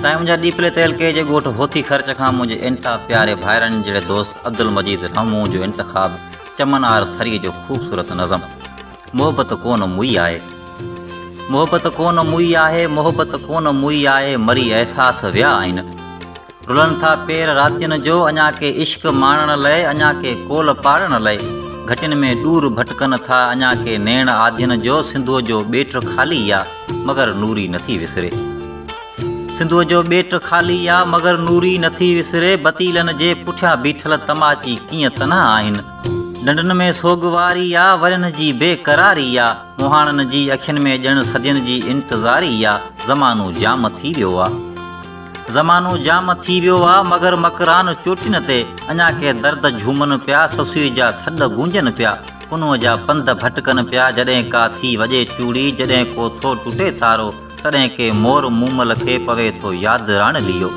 سائين منهنجا ڏيپلي تعلقي جي ڳوٺ هوٿي خرچ کان منهنجي انتها پياري ڀائرن جهڙي دوست عبدالمجيد رحمون جو انتخاب چمن آر ٿري جو خوبصورت نظم محبت ڪون موئي آهي محبت ڪون موئي آهي محبت ڪون موئي آهي مري احساس ويا آهن رلن ٿا پير راتين جو اڃا ڪي عشق ماڻڻ لئه اڃا ڪي ڪول پاڙڻ لئه گهٽين ۾ ڏور ڀٽڪن ٿا اڃا ڪي نيڻ آڌين جو سنڌوء جو ٻيٽ خالي آ مگر نوري نٿي وسري سنڌوء جو ٻيٽ خالي آ مگر نوري نٿي وسري بتيلن جي پٺيان بيٺل تماچي ڪيئن تنها آهن ڏنڊن ۾ سوگواري آ ورهين جي بي قراري آ مهاڻن جي اکين ۾ ڄڻ صدين جي انتظاري آ زمانو جام ٿي ويو آ. زمانو جام ٿي ويو آ مگر مڪران چوٽين تي اڃا ڪي درد جهومن پيا سسئي جا سڏ گونجن پيا ڪنوء جا پنڌ ڀٽڪن پيا جڏهن ڪا ٿي وڄي چوڙي جڏهن ڪو ٿو ٽٽي تارو تڏهن ڪي مور مومل کي پوي ٿو ياد راڻليو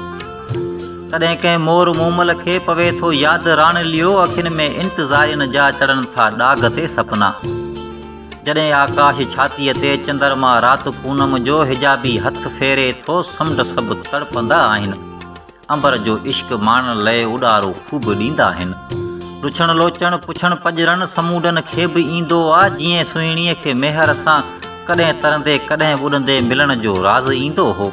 تڏهن ڪي مور مومل کي پوي ٿو ياد راڻليو اکين ۾ انتظارين جا چڙهن ٿا ڏاگ تي سپنا. جڏهن آڪاش ڇاتيء تي چندرما رات پونم جو حجابي هٿ ڦيري ٿو سمنڊ سڀ تڙپندا آهن عنبر جو عشق ماڻڻ لئه اڏارو خوب ڏيندا آهن لڇڻ لوچڻ پڇڻ پڄرن سمونڊن کي به ايندو آ جيئن سهڻيء کي ميهر سان ڪڏهن ترندي ڪڏهن ٻڏندي ملڻ جو راز ايندو هو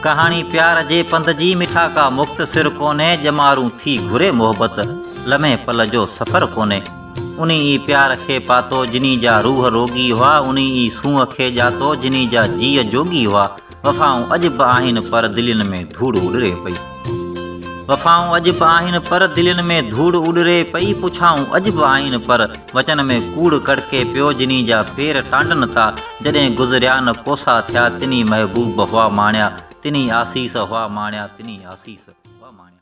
ڪهاڻي پيار جي پنڌ جي مٺا ڪا مختصر ڪونهي ڄمارون ٿي گهري محبت لمحي پل جو سفر ڪونهي. انهي ئي پيار کي پاتو، جنهي جا روح روڳي هئا، انهي ئي سونهن کي ڄاتو، جنهي جا جيء جوڳي هئا. وفائون اڄ به آهن پر دلين ۾ ڌوڙ اڏري پئي. وفائون اڄ به آهن پر دلين ۾ ڌوڙ اڏري پئي. پڇائون اڄ به آهن پر وچن ۾ ڪوڙ ڪڙڪي پيو، جنهي جا پير ٽانڊن تا جڏهن گذريا نه ڪوسا ٿيا، تنهي محبوب هئا ماڻيا، تنهي آسيس هئا ماڻيا، تنهي آسيس هئا ماڻيا.